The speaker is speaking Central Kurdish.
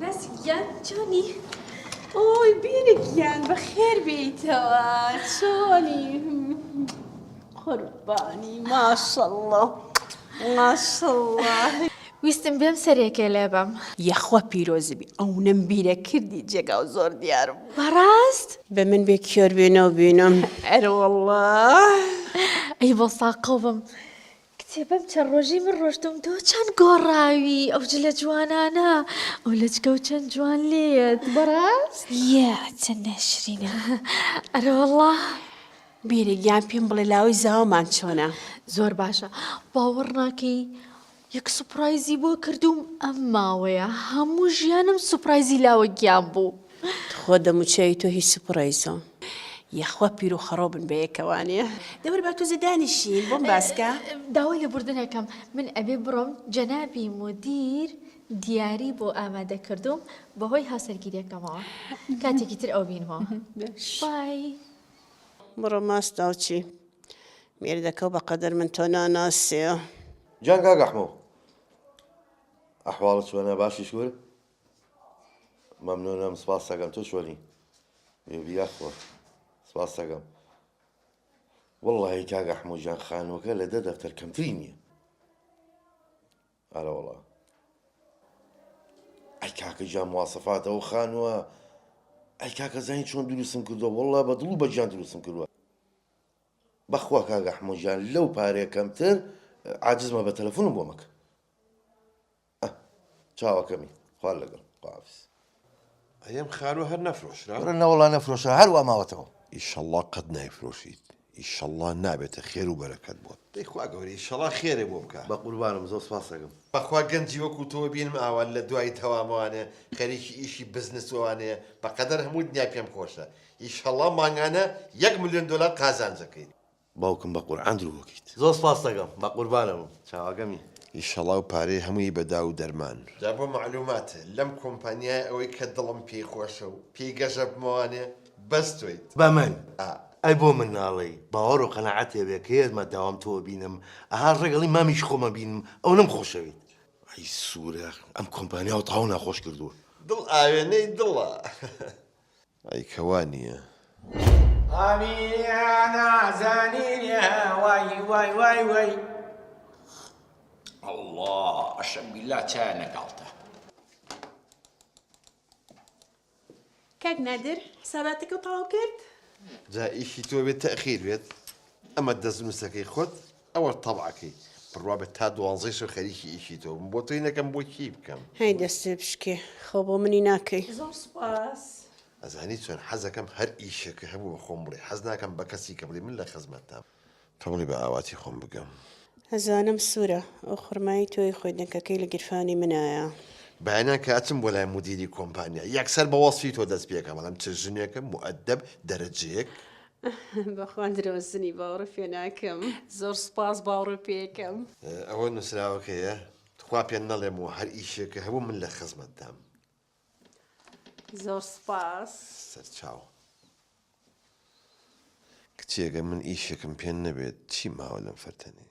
بەس گیان چۆنی؟ ئۆی بیرە گیان بەخێر بێیتەوە چۆنی قوربانی ماشەڵڵا ماشەڵڵا ویستم بێم سەرێکێ لێ بەم. یەخوا پیرۆزبی ئەونەم بیرە کردی جێگا و زۆر دیار بوو. بەڕاست؟ بە من بێ کیۆر بێنەو بینم. ئەرەوەڵڵا. ئەی بۆ ساقە بم. کچێ بەم چەند ڕۆژەی من ڕۆشتوم تۆ چەند گۆڕاوی ئەو جلە جوانانە ئەو لەچکە و چەند جوان لێیەت بەڕاست یە چەند ناشرینە ئەرە وەڵا بیرە گیان پێم بڵێ لاوەی زاوامان چۆنە زۆر باشە باوەڕ ناکەی یەک سوپرایزی بۆ کردووم ئەم ماوەیە هەموو ژیانم سوپرایزی لاوە گیان بوو تخوا دەموچاوی تۆ هی سوپڕایزە. یاخوا پیر و خەڕۆ بن بەیەکەوانێ. دەور با توزە دانیشین بۆم باسکە. داوای لێبوردن ئەکەم من ئەبێ بڕۆم جەنابی مودیر دیاری بۆ ئامادە کردووم بەهۆی هاوسەرگیریەکەمەوە کاتێکی تر ئەو بینمەوە بای. بڕۆ ماست ئەوچی مێردەکە و بەقەدەر من تۆ ناناسێ. جان کاک ئەحمەو ئەحواڵت چۆنە باشی شکور. مەمنونم سپاستەکەم تۆ چۆنی یاخوا سپاستەکەم وەڵی کاگە حموجان خانووەکە لە دە دەفتەر کەمتری نییە ئارە وڵا ئەی کاکە جا موواسەفاتەوە خانووە ئەی کاکە زانین چۆن دروستم کردو وڵا بە دڵ و بەجان دروستم کردووە بەخوا کاگە حموجان لەو پارێ کەمتر عجزمە بە تەلەفۆنم بۆ مەکە ئەه چاوەکەمی خوا لەگەڵ خواحافیز. ئەیەم خانوە هەر نەفرۆشرا؟ برا نەوەڵا نەفرۆشرا هەر وا ماوەتەوە. ئیشەڵا قەت نایفرۆشیت ئیشەڵا نابێتە خێر و بەرەکەت بۆت. دەی خوا گەورەی ئیشەڵا خێرێ بۆ بکا. بەقوربانم زۆر سپاست ئەکەم. بەخوا گەنجی وەکو تۆ بینم ئاوا لەدوای تەوام ئەوانە خەریکی ئیشی بزنس و ئەوانەیە بەقەدەر هەموو دنیا پێم خۆشە ئیشەڵا مانگانە یەک ملیۆن دۆلار قازانج ئەکەیت. باوکم بە قورعان درۆ ئەکەیت. زۆر سپاستەکەم بەقوربانەبم چاوەکەمی. ئیشەڵا و پارەی هەمووی بە داو و دەرمان. جا بۆ مەعلومات لەم کۆمپانیایە ئەوەی کە دڵم پێی خۆشە و پێی گەژەبمەوانێ بەس تۆیت. بە من؟ ئەی بۆ من ناڵێی؟ باوەڕ و قەناعەت هەبێ کە یەتمە داوام تۆ بینم ئەها ڕەگەڵی مامیشی خۆم ئەبینم ئەو نەم خۆشەوێت. ئەی سورە ئەم کۆمپانیاو تاو ناخۆش کردووە. دڵ ئاوێنەی دڵە. ئەی کە وا نییە؟ کاک نادر حساباتەکەو تەواو کرد؟ جا ئیشی تۆ بێت تەئخیر بێت ئەمە دەستنوسەکەی خۆت ئەوە تەبعەکەی بڕوا بە تا دوانزەی شەو خەریکی ئیشی تۆ بم بۆ تۆی نەکەم بۆ کێی بکەم. هەی دەستێ بشکێ خۆ بۆ منی ناکەی. زۆر سوپاس. ئەزانی چۆن حەزەکەم هەر ئیشێکە هەبوو بە خۆم بڵێ حەز ناکەم بە کەسی کە بڵێ من لە خزمەتتام. تۆ بڵێ بە ئاواتی خۆم بگەم. ئەزانم سورە ئەو خورمای تۆی خۆی دەنکەکەی لە گیرفانی منایە. بەیانیان کە ئەچم بۆ لای مودیری کۆمپانیا یەکسەر بە وەسفی تۆ دەست پێکەم ئەڵێم چ ژنێکە موئەدەب دەرەجەیەک. بەخوا درۆزنی باوڕ پێ ناکەم. زۆر سوپاس باوڕ پێکەم. ئەوە نوسراوەکەیە تخوا پێ نەڵێم و هەر ئیشێکە هەبوو من لە خزمەت دام. زۆر سوپاس. سەرچاو. کچێ گەر من ئیشێکم پێ نەبێت چی ماوە لەم فەرتەنەی.